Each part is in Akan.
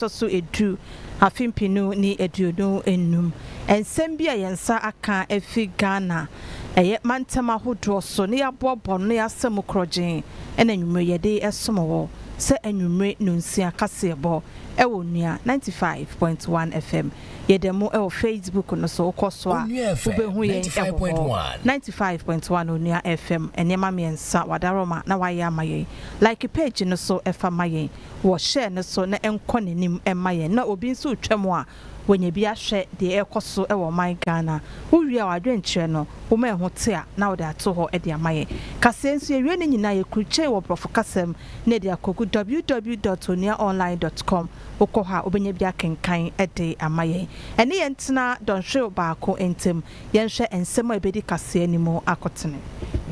ɛtɔ so edu, afe mpenu ne aduonu nnum. Nsɛm bi a yɛn nsa aka afi Ghana ɛyɛ mantam ahodoɔ so na yɛaboaboa ano na yɛasa mu korɔgyenn ɛna anwummere yɛde resom wɔ sɛ anwummere nnɔnsia kaseɛbɔ ɛwɔ Onua ninety five point one FM. Yɛda mu ɛwɔ Facebook no so, wokɔ so a wobɛhu yɛn ɛwɔ hɔ. Ninety five point one Onua FM, nneɛma mmiɛnsa, W'adaworoma na W'ayɛ ama yɛn. Like page no so ɛfa ma yɛn. wɔhyɛɛ no so na ɛnkɔ n'anim mma yɛn na obi nso retwam a, wanya bi ahwɛ deɛ ɛrekɔ so wɔ ɔman Ghana. Wowie a w'adwenkyerɛ no, woma ɛho te a, na wode ato hɔ de ama yɛn. Kaseɛ nso, yɛwie ne nyinaa a, yɛkrukyɛn wɔ Borɔfo kasa mu na yɛde akɔgu www dot onuaonline dot com. Wokɔ hɔ a, wobɛnya bi akenkan de ama yɛn. Ɛne yɛn ntena dɔnhwerew baako ntam. Yɛnhwɛ nsɛm a ɛbɛdi kaseɛ no mu akotene.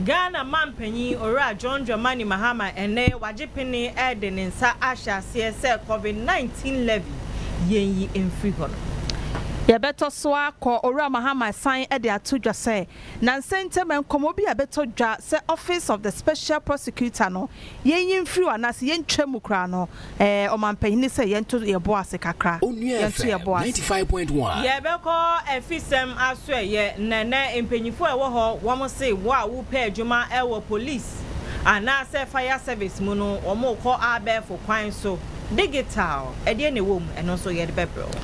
Ghana Mampanyin Owura John Dramani Mahama ɛnnɛ wagye pene ɛde ne nsa ahyɛ aseɛ sɛ Covid 19 levy yɛnyi mfiri hɔ no. Yɛbɛtɔ so akɔ, Owura Mahama san de ato dwa sɛ nansa ntam nkɔmmɔ bi a ɛbɛtɔ dwa sɛ Office of the Special Prosecutor no yɛnyi mfiri hɔ anaasɛ yɛntwa mu koraa no Ɛɛ ɔmampanyini sɛ yɛnto yɛn bo ase kakra. Onua Yɛnto yɛn FM bo ase. 95.1. Yɛbɛkɔ afisɛm asoɛyɛ na ɛnɛ mpanyinfoɔ a ɛwɔ hɔ wɔn se wo a wo pɛ adwuma ɛwɔ police anaasɛ fire service mu no wɔn rekɔ abɛɛfo kwan so digital ɛdeɛ na ɛwɔ mu ɛno nso yɛde bɛbrɛ wo.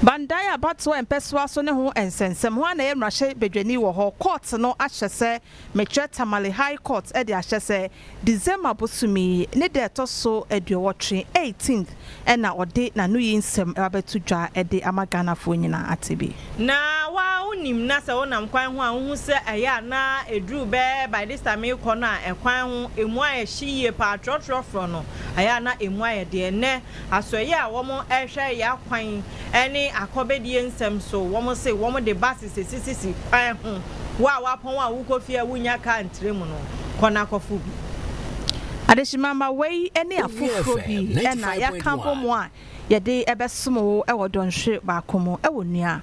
Bandae abatoɔ mpɛsoa so ne ho nsɛnsɛm, hwan na ɛyɛ mmarahyɛ badwani wɔ hɔ, court no ahyɛ sɛ Mekyerɛ Tamale High Court de ahyɛ sɛ December bosome yi ne da a ɛtɔ so aduowɔtwe, eighteenth, na ɔde n'anoyi nsɛm abɛto dwa de ama Ghanafoɔ nyinaa ate bi. Na wo ara wonim na sɛ wonam kwan ho a wohu sɛ ɛyɛ a na ɛduru bɛyɛ by this time rekɔ no a ɛkwan ho ɛmu ayɛ hye yie paa, trɔtrɔfrɔ no, ɛyɛ a na ɛmu ayɛ deɛ. Ɛnnɛ Asoɛeɛ a wɔhwɛ yɛn akwan ne akɔbɛdie nsɛm so, wɔse wɔde buses asisisi kwan ho, wo a woapɔn a wokɔ fie a wonnya car ntra mu no, kɔ na kɔforo bi. Adehyemma wei ne afoforɔ bi na yɛaka abɔ mu a yɛde bɛsom wo wɔ dɔnhwere baako mu, wo nua.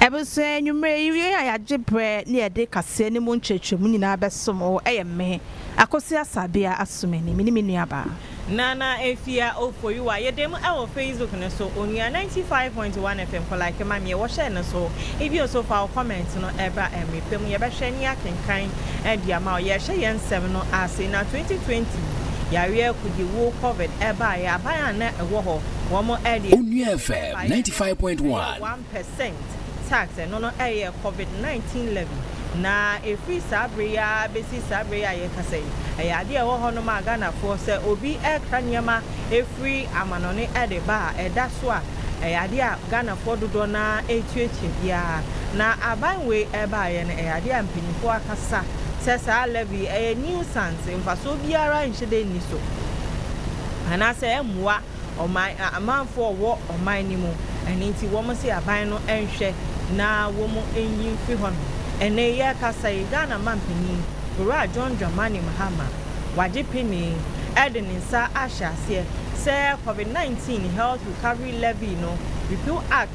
Abusua, anwummere yi yei a yɛagye berɛ ne yɛde kaseɛ no mu nkyerɛkyerɛmu nyinaa bɛsom wo yɛ me, Akosi Asabea Asumani, me ne me nuabaa. Nana Afia Ofoyiwa, yɛda mu wɔ Facebook no so, onua ninety five point one FM kɔ like ma me wɔ share no so, ebio nso fa wo comment no bra mmere pa mu, yɛbɛhwɛ ne akenkan de ama wo. Yɛrehyɛ yɛn nsɛm no ase, na twenty twenty yareɛ akudi wuo covid baeɛ, aban a na ɛwɔ hɔ wɔn de. Onua Efe ninety five point one. Ɛyɛ one percent tax, ɛno no ɛyɛ covid nineteen levy, na ɛfiri saa bere yi ara bɛsi saa bere yi a yɛrekasa yi, ɛyɛ adeɛ a ɛwɔ hɔnom a Ghanafoɔ sɛ obi rekra nneɛma firi amanɔne de ba a, ɛda so a, ɛyɛ adeɛ a Ghanafoɔ dodoɔ no ara retua kyɛ biara. Na aban wei ɛbaeɛ no, ɛyɛ adeɛ a mpanimfoɔ akasa sɛ saa levy yi ɛyɛ nuisance, mfasoɔ biara nhyɛ da nni so, anaasɛ ɛmmoa. Ɔman, a amanfoɔ wɔ ɔman no mu, ɛno nti wɔn se aban no nhwɛ na wɔn nyi mfiri hɔ nom. Ɛnɛ yɛrekasa yi, Ghana manpanin, Owura John Dramani Mahama, wagye penee de ne nsa ahyɛ aseɛ sɛ Covid 19 Health Recovery Levy no Repeal Act,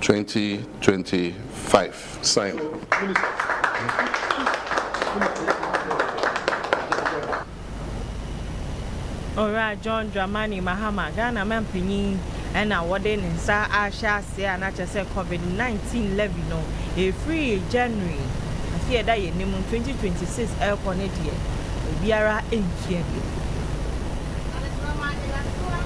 twenty twenty five sign. Owura John Dramani Mahama, Ghana Mampanyin na wɔde ne nsa ahyɛ ase a na kyerɛ sɛ Covid nineteen levy no ɛfiri January afe a ɛda yɛn anim twenty twenty six rekɔ no deɛ obiara ntua bio. Adesoroma Adasoa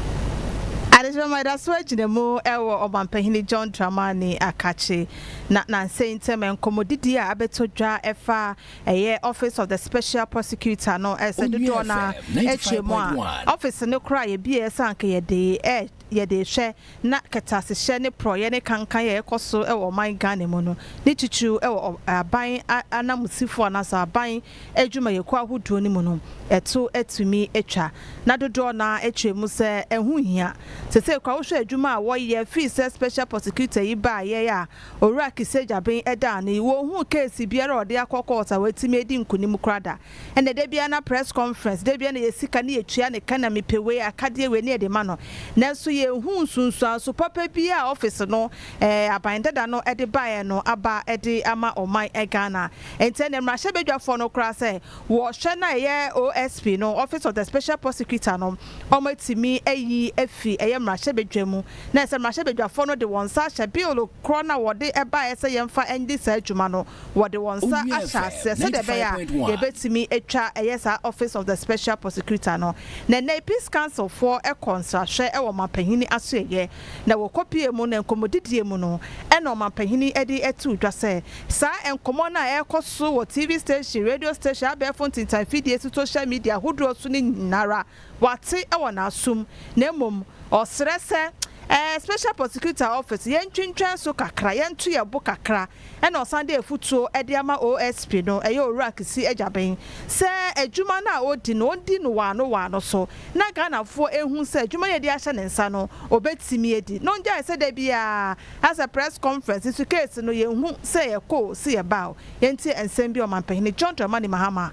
Adesoroma Adasoa gyina mu wɔ Ɔmanpanyini John Dramani Akakye na nansa ntam nkɔmmɔdidie a abɛtɔ dwa fa ɛyɛ Office of the Special Prosecutor no sɛ dodoɔ no ara twa mu a office no koraa yɛbueɛ sɛ anka yɛde yɛde rehwɛ na kɛtɛasehyɛ ne porɔeɛ ne kankan a ɛrekɔ so wɔ ɔman Ghana mu no ne titiriw wɔ aban ananmusifoɔ anaasɛ aban adwumayɛkuo ahodoɔ no mu no, ɛto atumi atwa. Na dodoɔ no ara kyerɛ mu sɛ ɛho nhia. Seisei koraa wohwɛ adwuma a wɔyɛ firi sɛ Special Prosecutor yi baeɛ a Owura Kiseh Gyabin da ano yi, wɔnhuu case biara a ɔde akɔ court a watumi adi nkunim koraa da. Ɛnna da biara na press conference, da biara na yɛ sika ne yɛtua ne ka na mepɛ wei, akadeɛ wei ne yɛde ma no. Nanso yɛnhuu nsunsuanso papa biara a office no, aban dada no de baeɛ no aba de ama ɔman Ghana. Enti ɛnneɛ mmarahyɛbadwafoɔ no koraa sɛ wɔhwɛ no a ɛyɛ OSP no, Office of the Special Prosecutor no, wɔatumi ayi afiri ɛyɛ mmarahyɛbadwa mu na ɛsɛ mmarahyɛbadwafoɔ no de wɔn nsa ahyɛ Bill korɔ no a wɔde baeɛ sɛ yɛmfa nyɛ saa adwuma no, wɔde wɔn nsa ahyɛ aseɛ sɛdeɛ ɛbɛyɛ a yɛbɛtumi atwa ɛyɛ saa Office of the Special Prosecutor no. Na ɛnnɛ yi Peace Councilfoɔ kɔɔ nsrahwɛ wɔ ɔmanpanin Asoɛeɛ. na wɔ kɔpie mu na nkɔmmɔdidie mu no na ɔmanpanyini de too dwa sɛ saa nkɔmmɔ no a ɛrekɔ so wɔ TV station, radio station, abɛɛfo ntintan mfidie so, social media ahodoɔ so no nyinara wate wɔ n'asom na mmom ɔsrɛ sɛ ɛɛ Special Prosecutor Office yɛntwentwɛn so kakra, yɛnto yɛn bo kakra. Ɛna ɔsan de afutuo de ama OSP no, ɛyɛ Owura Kissi Agyaben, sɛ adwuma no a ɔredi no ɔndi no waano waano so na Ghanafoɔ nhu sɛ adwuma no a yɛde ahyɛ ne nsa no ɔbɛtumi adi na ɔngyae sɛ da biara asɛ press conference nso case no yɛnhu sɛ yɛkɔ o se yɛba o. Yɛntie nsɛm bi a Ɔmanpahini John Dramani Mahama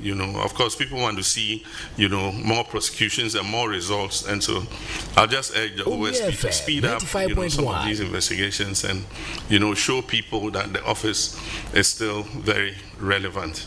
You know of course people want to see you know more prosecutions and more results and so I'll just urge the OSP to speed up you know some of these investigations and you know show people that the office is still very relevant.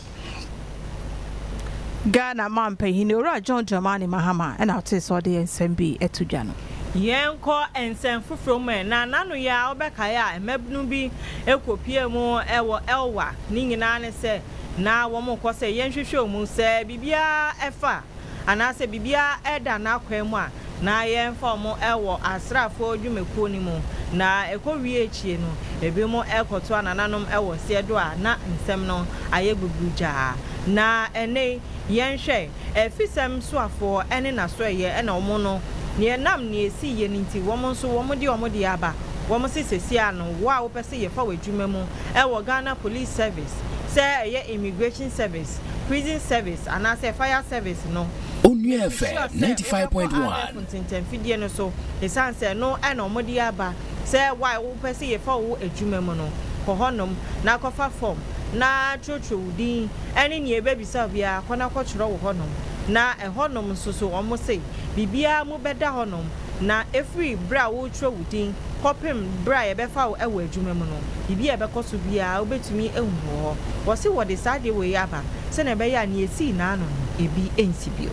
Ghana mampanin owura John Dramani Mahama ɛna ɔte sɛ ɔde nsɛm bi ɛto dwa no. Yɛnkɔ nsɛm foforɔ mu ɛ na nano yɛ a wobɛkae a mmabunu bi ɛkɔpie mu ɛwɔ Elwa ne nyinaa ne sɛ na wɔkɔ sɛ yɛnhwehwɛ wɔn mu, sɛ biribiara fa anaasɛ biribiara da n'akwan mu a, na yɛmfa wɔn wɔ asraafoɔ dwumakuo no mu, na ɛkɔwie akyire no, ebinom kɔtoa nananom wɔ aseɛ do a na nsɛm no ayɛ gbugudwaa. Na ɛnnɛ yi, yɛnhwɛ, afisɛm soafoɔ ne n'asoɛeɛ na wɔn no, na ɛnam nea ɛsiiɛ no nti, wɔn nso wɔde wɔn deɛ aba, wɔse sɛsi ara no, wo a wopɛ sɛ yɛfa wo adwuma mu, wɔ Ghana Police Service, sɛ ɛyɛ Immigration Service, Prison Service anaasɛ Fire Service no. Onua FM ninety five point one. Mɛkɔ abɛɛfo ntentɛnfidie no so ɛsiane sɛ ɛno na wɔde aba sɛ why wopɛ sɛ yɛfa wo adwuma mu no, kɔ hɔnom na kɔfa fɔm na twerɛtwerɛ wo din ne nea ɛbɛbisa wo biara, kɔ na kɔtwerɛ wɔ hɔnom. Na ɛhɔnom nso so wɔse biribiara mu bɛda hɔnom. Na ɛfiri berɛ a woretwerɛ wo din kɔpem berɛ a yɛbɛfa wo wɔ adwuma mu no, biribi a ɛbɛkɔ so biara wobɛtumi ahu wɔ hɔ. Wɔse wɔde saa adeɛ wei aba sɛdeɛ ɛbɛyɛ a nea ɛsii naano no ɛbi nsi bio.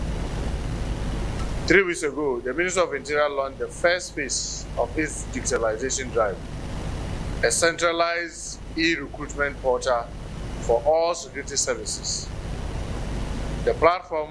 Three weeks ago, the Ministry of Interior launched the first phase of its digitalization drive, a centralized e-recruitment portal for all security services. The platform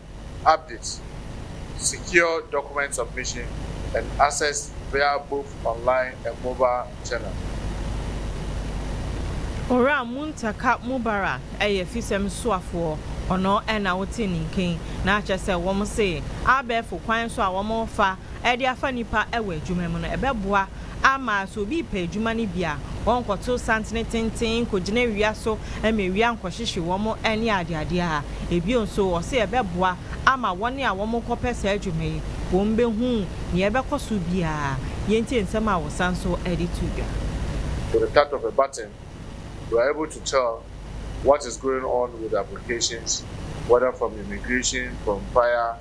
Updates, Secure document submission and access via both online and mobile channel. Owura Muntaka Mubarak yɛ fisɛm suafoɔ, ɔno na wote ne nken, na akyerɛ sɛ wɔn se abɛɛfo kwan so a wɔn refa de afa nnipa wɔ adwuma mu no ɛbɛboa Ama sɛ obi repɛ adwuma no bi a, ɔrenkɔto santene tenten nkɔgyina awia so ma awia nkɔhyehye wɔn ne adeadeɛ a. Bio nso, ɔse ɛbɛboa ama wɔn a wɔrekɔpɛ saa adwuma yi, wɔbɛhu nea ɛbɛkɔ so biara. Yɛntie nsɛm a wɔsan nso de too dwa. With the touch of a button, you are able to tell what is going on with applications whether from immigration, from fire,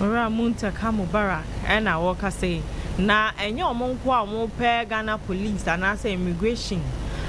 Owura Muntah ka Mubarak na wɔrekasa yi, na ɛnyɛ wɔn nko a wɔpɛ Ghana Police anaasɛ Immigration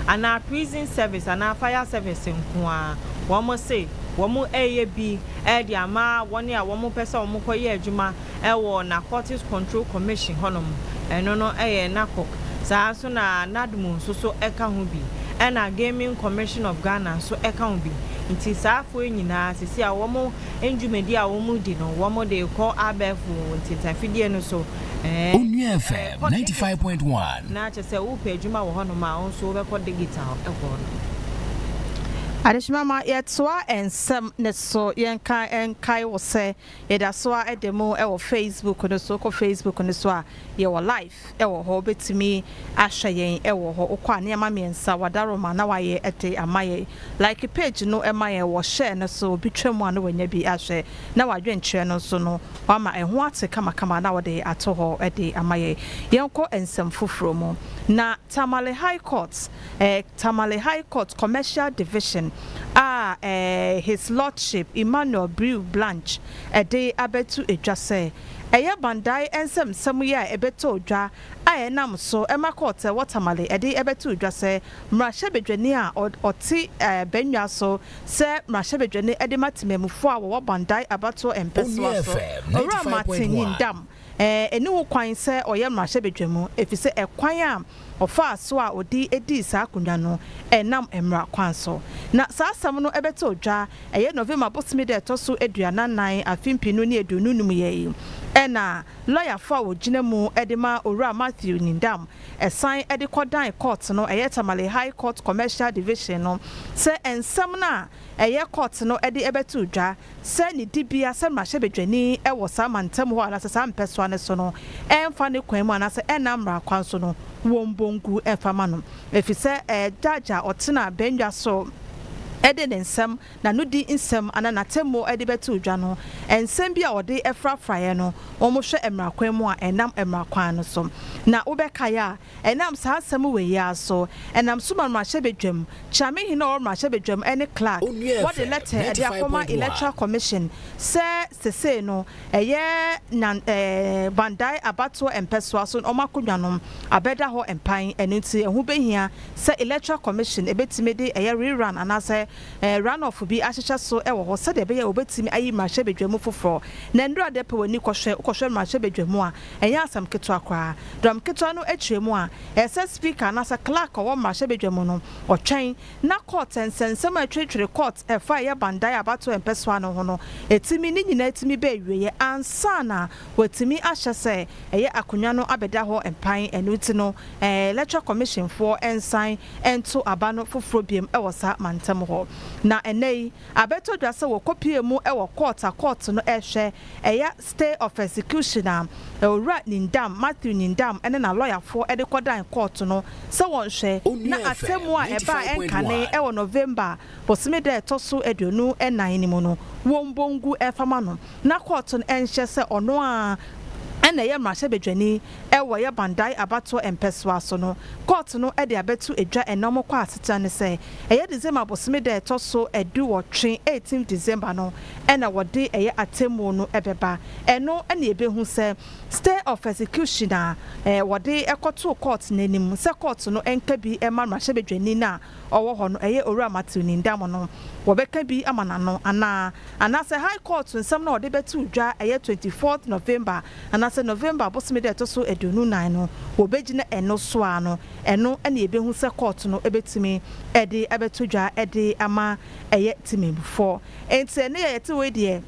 anaa Prison Service anaa Fire Service nko ara. Wɔse wɔreyɛ bi de ama wɔn a wɔpɛ sɛ wɔkɔyɛ adwuma wɔ Narcotics Control Commission hɔnom, ɛno no yɛ NACOC, saa ara nso na NADMO nso so ka ho bi, ɛna Gaming Commission of Ghana nso ka ho bi. Nti saa afoɔ yi nyinaa sisi a wɔn ndwumadie a wɔn di no wɔn de rekɔ abɛɛfo ntintanfidie no so ɛɛ. Onua FM ninety five point one. Na kyɛ sɛ wopɛ adwuma wɔ hɔnom a wo nso wobɛkɔ digital ɛhɔ no. Adehyema ma yɛtoa nsɛm no so, yɛnka nkae wo sɛ Yɛda so ara da mu wɔ Facebook no so. Wokɔ Facebook no so a, yɛwɔ live wɔ hɔ. Wobɛtumi ahwɛ yɛn wɔ hɔ. Wokɔ a, nneɛma mmiɛnsa, Wadaroma na wayɛ de ama yɛn. Like page no ma yɛn wɔ share no so. Obi twa mu a na wanya bi ahwɛ, na w'adwenkyerɛ no nso no, wama ɛho ate kamakama na ɔde ato hɔ de ama yɛn. Yɛnkɔ nsɛm foforɔ mu. Na Tamale High Court. Tamale High Court Commercial Division a His Lordship Emmanuel Brew Blanche de abɛto dwa sɛ ɛyɛ Bandae nsɛmnsɛm yi a ɛbɛtɔɔ dwa a ɛnam so ma kɔɔto a ɛwɔ Tamale de bɛtoo dwa sɛ mmarahyɛbadwani a ɔte bannwa so sɛ mmarahyɛbadwani de ma temanmufoɔ a wɔwɔ Bandae abatoɔ mpɛsoa so Owura Martin Nyindam nni ho kwan sɛ ɔyɛ mmarahyɛbadwamu efisɛ ɛkwan a Ɔfaa so a ɔde dii saa akonnwa no nam mmara kwan so. Na saa asɛm no bɛtoo dwa ɛyɛ November bosome da a ɛtɔ so aduanan nan afe mpenu ne aduonu nnum yɛ yi. Ɛna lɔyafo a ɔgyina mu de ma Owura Matthew Nyindam san de kɔdan kɔɔt no ɛyɛ Tamale High Court Commercial Division no sɛ nsɛm no a ɛyɛ kɔɔt no de bɛtoo dwa sɛ ne dibea sɛ mmarahyɛbadwani wɔ saa mantam hɔ anaasɛ saa mpɛsoa no so no mfa ne kwan mu anaasɛ ɛnna mmara kwan so no wɔmmɔ ngu mfa mma no, efisɛ judge a ɔtena abangua so de ne nsɛm, n'anodi nsɛm anaa n'atemmu de bɛtoo dwa no, nsɛm bi a ɔde frafraeɛ no, wɔhwɛ mmara kwan mu a ɛnam mmara kwan no so. Na wobɛkae a, Ɛnam saa asɛm wei yi ara so, ɛnam so ma mmarahyɛbadwam, Kyerɛmehene a ɔwɔ mmarahyɛbadwam ne Clerk, wɔde lɛtɛ de akɔma Electoral Commission sɛ sesei no ɛyɛ Nyan Bandae abatoɔ mpɛsoa so na wɔn akonnwa no abɛda hɔ mpan, ɛno nti ɛho bɛhia sɛ Electoral Commission ɛbɛtumi de ɛyɛ re-run anaasɛ run-off bi ahyehyɛ so wɔ hɔ sɛdeɛ ɛbɛyɛ a wɔbɛtumi ayi mmarahyɛbadwam foforɔ. Na nnura dɛ pɛ w'ani kɔhwɛ, wokɔhwɛ mmarahyɛbadwam a, Ɛnyɛ asɛm ketewa koraa. Dɔm ketewa no akyerɛ mu a, ɛsɛ sɛ Speaker anaasɛ Clerk a ɔwɔ mmarahyɛbadwa mu no, ɔtwɛn na Court nsɛnsɛm a ɛtweretwere Court a ɛfa ɛyɛ bandae a abatoɔ a ɛmpɛ so ano ho no tumi, ne nyinaa tumi ba awieɛ ansa na wɔatumi ahyɛ sɛ ɛyɛ akonnwa no abɛda hɔ mpan. Ɛno nti no, Electoral Commission foɔ nsan nto aba no foforɔ bio wɔ saa mantam hɔ. Na ɛnnɛ yi, abɛtɔ dwa sɛ wɔkɔpue mu wɔ Court a Court no rehwɛ ɛyɛ Stay of execution a Owura Nyndam, Matthew Nyndam, ne n'alɔyafoɔ de kɔdan kɔɔto no sɛ wɔnhwɛ na atemmuo a ɛbaa ɛnkane wɔ November bosome da a ɛtɔ so aduonu nnan no mu no wɔmmɔ ngu mfa ma no na kɔɔto no nhyɛ sɛ ɔno ara na ɛyɛ mmarahyɛbadwani wɔ yɛ Bandai abatoɔ mpɛsoa so no. Kɔɔto no de abɛto dwa ɛnnɛ wɔkɔ asetena ne sɛ ɛyɛ December bosome da a ɛtɔ so aduwɔtwe, eighteenth December, no. na wɔde ɛyɛ atemmuo no bɛba. Ɛno na yɛbɛhu sɛ stay of execution a wɔde kɔtoo kɔɔt no anim sɛ kɔɔt no nka bi mma mmarahyɛbadwani no a ɔwɔ hɔ no, ɛyɛ Owura Matthew Nindam no, wɔbɛka bi ama no ano anaa? Anaasɛ High Court nsɛm no a wɔde bɛtoo dwa ɛyɛ twenty fourth November anaasɛ November bosome da a ɛtɔ so aduonu nnan no, wɔbɛgyina ɛno so ara no? Ɛno na yɛbɛhu sɛ kɔɔt no bɛtumi de abɛto dwa de ama ɛyɛ temamufoɔ. Enti ɛnnɛ yɛ yɛte wei deɛ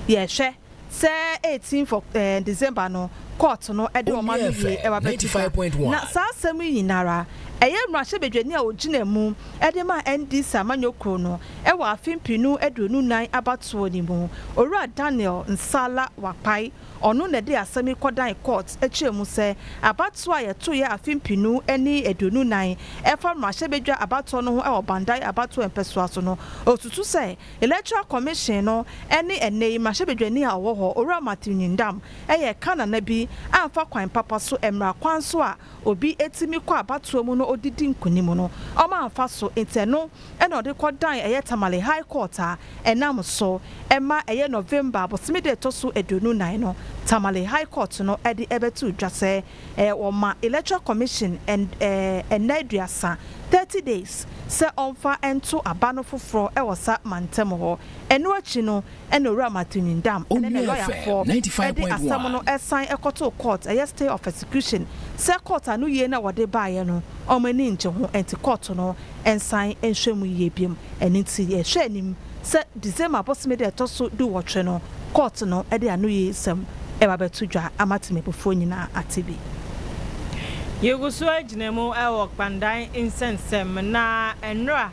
yɛhwɛ sɛ eighteenth of December no court no de wɔn ano wie ɛba bɛtu ka. Na saa asɛm yi nyinara ɛyɛ mmarahyɛbadwani a ɔgyina mu de ma NDC amanyɔ kuro no wɔ afe mpenu aduonu nan abatoɔ no mu, Owura Daniel Nsala Wakpai, Ɔno na ɛde asɛm yi kɔdan kɔɔt kyerɛɛ mu sɛ abatoɔ a yɛtoeɛ afe mpenu ne aduonu nnan ɛfa mmarahyɛbadwa abatoɔ no ho wɔ Bandai abatoɔ mpɛsoa so no, ɔsusu sɛ Electoral Commission no ne ɛnnɛ yi mmarahyɛbadwani a ɔwɔ hɔ, Owura Matthew Nyindam, yɛ ka nana bi amfa kwan papa so mmara kwan so a obi tumi kɔ abatoɔ mu na ɔde di nkunim no, wɔamfa so nti ɛno ɛna ɔde kɔdan ɛyɛ Tamale High Court a ɛnam so ma ɛyɛ November bosome da ɛtɔ so aduonu nnan no Tamale High Court no de ɛbɛtoo dwa sɛ wɔma Electoral Commission nna aduasa, thirty days, sɛ ɔmfa nto aba no foforɔ wɔ sa mantam hɔ. Ɛno akyi no ɛna owura Matunyindam ɛne ne lɔyafoɔ de asɛm no san kɔtoo court, ɛyɛ stay of execution, sɛ court ano yie na wɔde baeɛ no wɔn ani ngye ho nti court no nsan nhwɛ mu yie bio. Ɛno nti yɛhwɛ anim sɛ December bosome da ɛtɔ so du nwɔtwe no court no de anoyie nsɛm ɛba bɛto dwa ama Temubufoɔ nyinaa ate bi. Yɛgu so agyina mu wɔ Kpandan nsɛnsɛm na nnora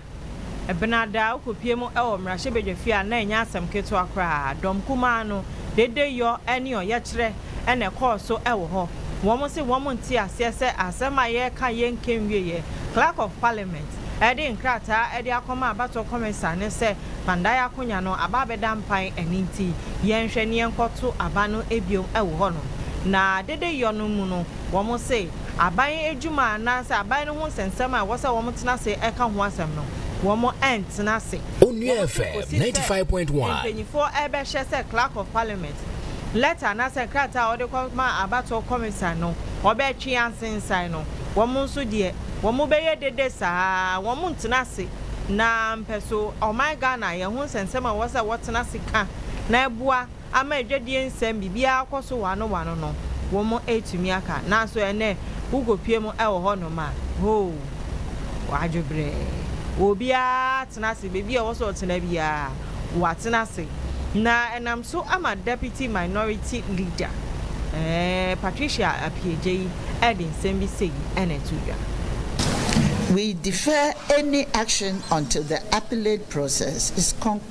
Ebɛnadze a okopue mu wɔ mbrahyɛbadwafie a nna nnyɛ asɛm ketsewa koraa. Dɔm kumaa no, dedeyɔ nye ɔyɛkyerɛ na ɛkɔɔ so wɔ hɔ. Wɔn se wɔn nntse aseɛ sɛ asɛm a yɛreka yɛ nnkɛnwieɛ. Clerk of Parliament de nkrataa de akɔma Abatoɔ Kɔmisa ne sɛ Kpandae akonya no aba abɛda mpan ɛno nti yɛnhwɛ ne yɛnkɔto aba no bio wɔ hɔnom. Na dedeyɔ no mu no, Wɔn se, aban adwuma anaasɛ aban no ho nsɛnsɛm a ɛwɔ sɛ wɔn tena ase ɛka ho asɛm no, wɔn ɛntena ase. Onua FM ninety five point one. Wɔn se, mpanyinfoɔ ɛbɛhyɛ sɛ Clerk of Parliament lɛta anaasɛ nkrataa a wɔde kɔma abatoɔ kɔmisa no, wɔbɛtwe asensan no. Wɔn nso deɛ, wɔn bɛyɛ dede saa ara, wɔn ntena ase na mpɛso ɔman Ghana yɛn ho nsɛnsɛm a ɛwɔ sɛ wɔtena ase ka na ɛboa, ama adwadie nsɛm biribiara akɔ so wano wano no wɔn atumi aka nanso ɛnɛ wo kɔ pue mu wɔ hɔ nom a hoo wadwo brɛɛ obiara atena ase baabi a ɛwɔ sɛ ɔtena biara watena ase na ɛnam so ama Deputy Minority Leader ɛɛ Patricia Appiagyei ɛde nsɛm bi sei ɛna ɛto dwa. We defer any action until the appellate process is concluded.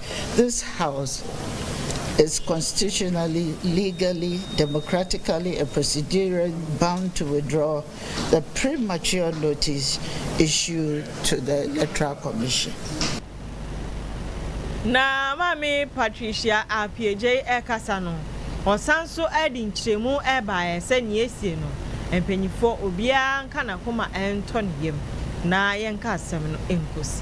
This house is constitutionally, legally, democratically and procedurally bound to withdraw the premature notice issued to the Electoral Commission. Na Maame Patricia Appiagyei rekasa no, ɔsan nso de nkyerɛmu baeɛ sɛ nea asie no, mpanimfoɔ obiara nka n'akoma ntɔ ne yam na yɛnka asɛm no nkɔsi.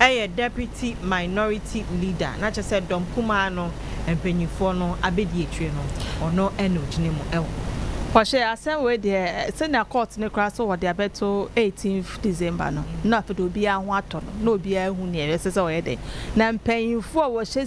yɛ Deputy Minority Leader, na kyerɛ sɛ dɔm kumaa no mpanyinfoɔ no abɛdi akyire no, ɔno na ɔgyina mu wɔ hɔ. Wɔhyɛ asɛm wei deɛ sɛnea court no koraa sɛ wɔde abɛto eighteenth December no na afei deɛ obiara ho atɔ no na obiara ahu nea ɛsɛ sɛ ɔyɛ dɛn na mpanyinfoɔ a wɔhyɛ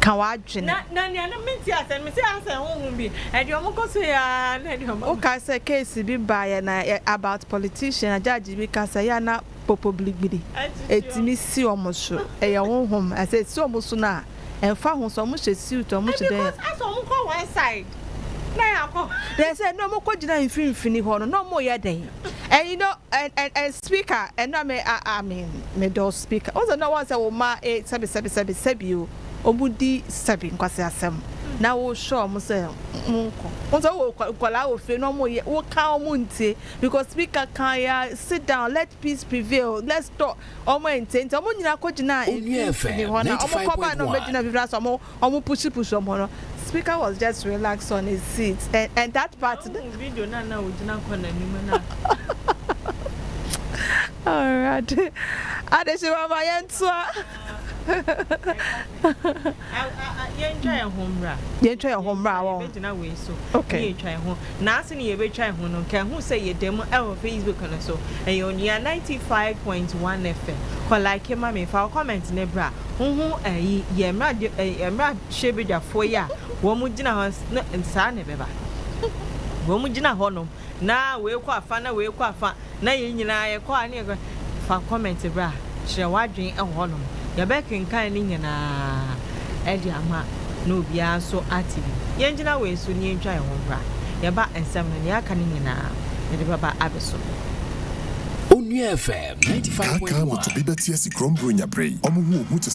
ka w'adwene. Na na nea na mente ase no mese asɛ honhom bi ɛde ɔmo kɔ so yɛ aa na ɛde ɔmo. Wokae sɛ case bi baeɛ na about politician na judge bi ka sɛ yɛ a na popo biribiri ɛtumi si ɔmo so ɛyɛ honhom na sɛ ɛsi ɔmo so no a ɛmfa ho sɛ ɔmo hyɛ suit ɔmo hyɛ dɛn a. Because asɛ ɔmo kɔ one side na yɛakɔ. Then sɛ na ɔmo kɔ gyina mfimfini hɔ no na ɔmo yɛ dɛn and you know and and and. Speaker, ɛno a me ah ah me me dɔ speaker wo sɛ na wɔn sɛ wo mma e sɛbi sɛbi sɛbi sɛbi o wɔn di sɛbi nkwasi asɛm na wo hyɛ wɔn sɛ wɔn nkɔ wɔn sɛ wo wɔ nkwadaa wɔ fie na wɔn yɛ wo ka wɔn ntie because speaker kan ya sit down let peace prevail let's talk wɔn ɛntie nti wɔn nyinaa kɔ gyina mfimfini hɔ na wɔn kɔ ba na wɔn bɛ gyina mfimfini na sɛ wɔn. Ɔmo pushi pushi ɔmo no speaker was just relax on his seat and and that part. Ɔmo hu video no a na ogyina kɔ n'anim no a. Awurade adehyemaa ma yɛntoa. Yɛntwa yɛn ho mmra. Yɛntwa yɛn ho mmra wɔn. Yɛbɛgyina wei so. Okay. Yɛntwa yɛn ho. Naaso na yebetwar ho no, nka ehu sɛ yɛda mu wɔ Facebook no so. Ɛyɛ Onua ninety five point one FM. Kɔ like ma me, fa wo comment no bra. Woho eyi yɛ mmra mmrahyɛbadwafoɔ yi a wɔn gyina hɔ no saa na ɛbɛba. Wɔn gyina hɔ nom na wei kɔ afa na wei kɔ afa. Na yɛn nyinaa yɛkɔ a ne yɛka fa comment bra kyerɛ w'adwene wɔ hɔnom. Yɛbɛkenkan ne nyinaa de ama na obiara nso ate bi. Yɛngyina wei so na yɛntwa yɛn ho mbra. Yɛba nsɛm no nea aka no nyinaa yɛde bɛba abɛso no. Onua FM ninety five point one. Kaa kaa moto bi bɛte asi kurom Buronya bere yi. Wɔn ho ohu te sɛ.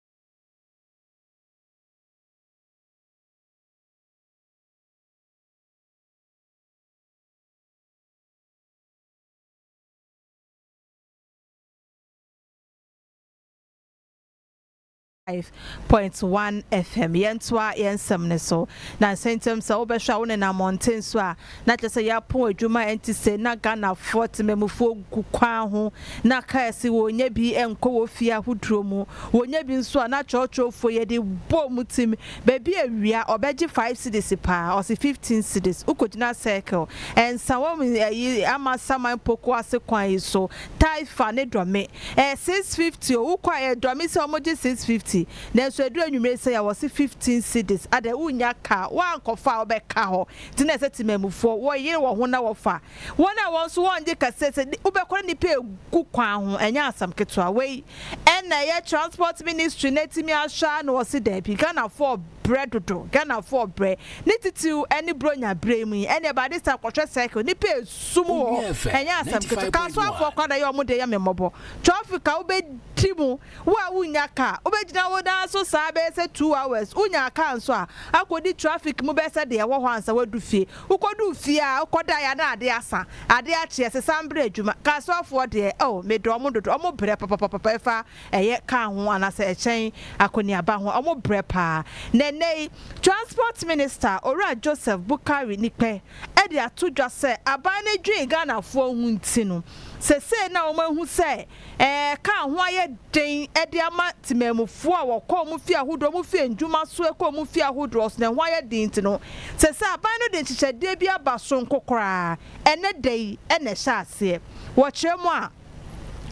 point one FM. Yɛntoa yɛn nsɛm no so. Nnansa ntam sɛ wobɛhwɛ a wonenam mmɔnten so a, Na kyerɛ sɛ yɛapɔn adwuma ɛnti sɛ na Ghanafoɔ temammufoɔ gu kwan ho na cars wɔnnya bi nkɔ wɔn fie ahodoɔ mu, wɔnnya bi nso a na kyerɛwkyerɛwfoɔ yi de bɔ wɔn tim, baabi a wia ɔbɛgye five cedis paa ɔse fifteen cedis, wokɔgyina circle ɛnsa wɔ ɛyi ama saman poko ase kwan yi so, Taifa ne Dɔme ɛyɛ six fifty o, wokɔ a ɛyɛ Dɔme sɛ wɔgye six fifty nanso ɛduru anwummere sɛi a wɔse fifteen cedis, adɛn wonnya car, woankɔfa a wobɛka hɔ? Enti na ɛsɛ temanmufoɔ wɔyere wɔn ho na wɔfa wɔn a wɔn nso wɔngye kɛseɛ sɛ wobɛkɔ ne nipa egu kwan ho ɛnyɛ asɛm ketewa wei ɛna ɛyɛ transport ministry na atumi ahwɛ a na wɔse daabi Ghanafoɔ brɛ dodo Ghanafoɔ brɛ ne titiriw ɛne bronya berɛ mu yi ɛneɛ by this time kɔhwɛ cycle nipa esu mu hɔ ɛnyɛ asɛm ketewa kasoafoɔ koraa na ɛyɛ wɔn deɛ yɛ me mmɔbɔ traffic a wobɛdi mu Wo a wunnya car, wobegyina wo nan so saa bɛyɛ sɛ two hours, wunya car nso a, akodi traffic mu bɛyɛ sɛ deɛ ɛwɔ hɔ ansa woadu fie. Wukoduu fie a, wokɔdaeɛ a na ade asa, ade akye, ɛsesa mbrɛ adwuma. Car soafoɔ deɛ, oh, medɔ wɔn dodo, wɔn brɛ papapapapa ɛfa ɛyɛ car ho anaasɛ ɛkyɛn akɔneaba ho a, wɔn brɛ paa. Na ɛnnɛ yi, Transport Minister, Owura Joseph Boukary Nikpeh de ato dwa sɛ aban no dwen Ghanafoɔ ho nti no, sesei na wɔahu sɛ, Ɛka ho ayɛ den de ama temanmufoɔ a wɔkɔ wɔn fie ahodoɔ, wɔn fie ndwuma so ɛkɔ wɔn fie ahodoɔ so na ɛho ayɛ den nti no, sɛ sɛ aban no de nhyehyɛdeɛ bi aba sononko koraa ɛnɛ da yi na ɛhyɛ aseɛ. Wɔkyerɛ mu a,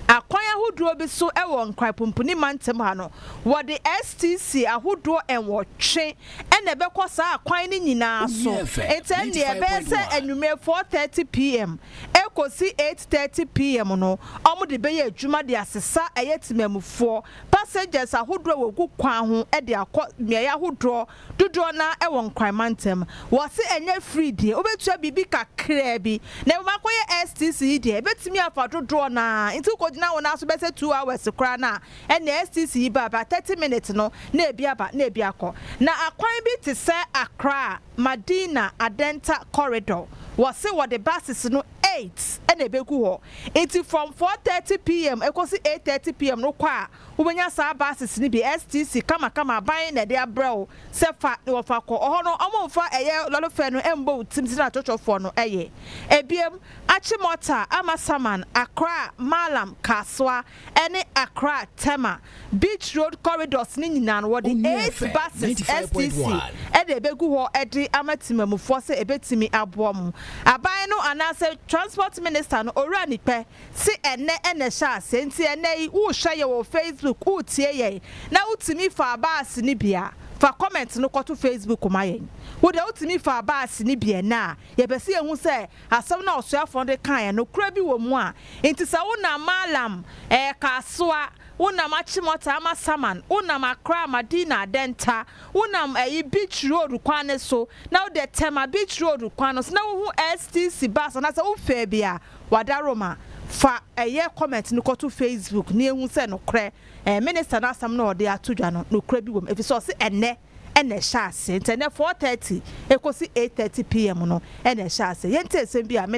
akwan ahodoɔ bi so wɔ Nkran Pumpuni Mantam ha no, wɔde STC ahodoɔ nwɔtwe na ɛbɛkɔ saa akwan no nyinaa so, nti ɛnneɛ ɛbɛyɛ sɛ anwummerɛ 4:30 PM ɛrekɔsi eight thirty PM no, wɔde bɛyɛ adwuma de asesa ɛyɛ temanmufoɔ, passengers, ahodoɔ a wɔgu kwan ho de akɔ mmeaeɛ ahodoɔ, dodoɔ no ara wɔ Nkran mantam. Wɔse ɛnyɛ free deɛ, wobɛtua biribi kakraa bi, na mmom akɔyɛ STC yi deɛ, ɛbɛtumi afa dodoɔ no ara, nti wokɔgyina wo nan so bɛsɛ two hours koraa no a, ɛnneɛ STC yi ba a, bra thirty minutes no na ebi aba na ebi akɔ. Na akwan bi te sɛ Accra, Madina Adenta Corridor, wɔse wɔde buses no eight na ɛbɛgu hɔ, nti from four thirty PM ɛkɔsi eight thirty PM no kɔ a, wobɛnya saa buses no bi, STC kama kama, aban na ɛde abrɛ wo sɛ fa na wɔfa kɔ, ɔhɔ no wɔmfa ɛyɛ lɔre fare no mmɔ wo tirim sɛdeɛ atwɔtwɔfoɔ no yɛ. Ɛbiam, Achimota, Amasaman, Accra, Maalam, Kasoa, ɛne Accra, Tema, Beach Road Corridors no nyinaa no, wɔde eight buses, STC, na ɛbɛgu hɔ de ama temanmufoɔ sɛ ɛbɛtumi aboa wɔn. Aban no anaasɛ Transport Minister no, Owura Nikpɛ, se ɛnnɛ na ɛhyɛɛ aseɛ, nti ɛnnɛ yi wohwɛ yɛn wɔ Facebook, wotie yɛn, na wotumi faa bus no bi a, fa comment no kɔto Facebook ma yɛn. Wo deɛ wotumi faa bus no bi ɛnnɛ a, yɛpɛ sɛ yɛhu sɛ Asɛm no a ɔsoafoɔ no de kaeɛ no, nokorɛ bi wɔ mu a enti sɛ wonam Maalam, ɛɛ Kasoa, wonam Achimota ama Saman, wonam Accra, Madina, Adenta, wonam ɛyi Beach Road kwan no so, na wode Tema Beach Road kwan no so na wohu STC bus anaasɛ wofɛɛ bi a, wadaworo ma. Fa ɛyɛ comment no kɔto Facebook na yɛnhu sɛ nokorɛ ɛɛ Minister no asɛm no a ɔde ato dwa no, nokorɛ bi wɔ mu, ɛfiri sɛ ɔse ɛnnɛ. na ɛhyɛ aseɛ. Nti ɛnnɛ four thirty ɛkɔsi eight thirty PM no na ɛhyɛ aseɛ. Yɛntie asɛm bi a me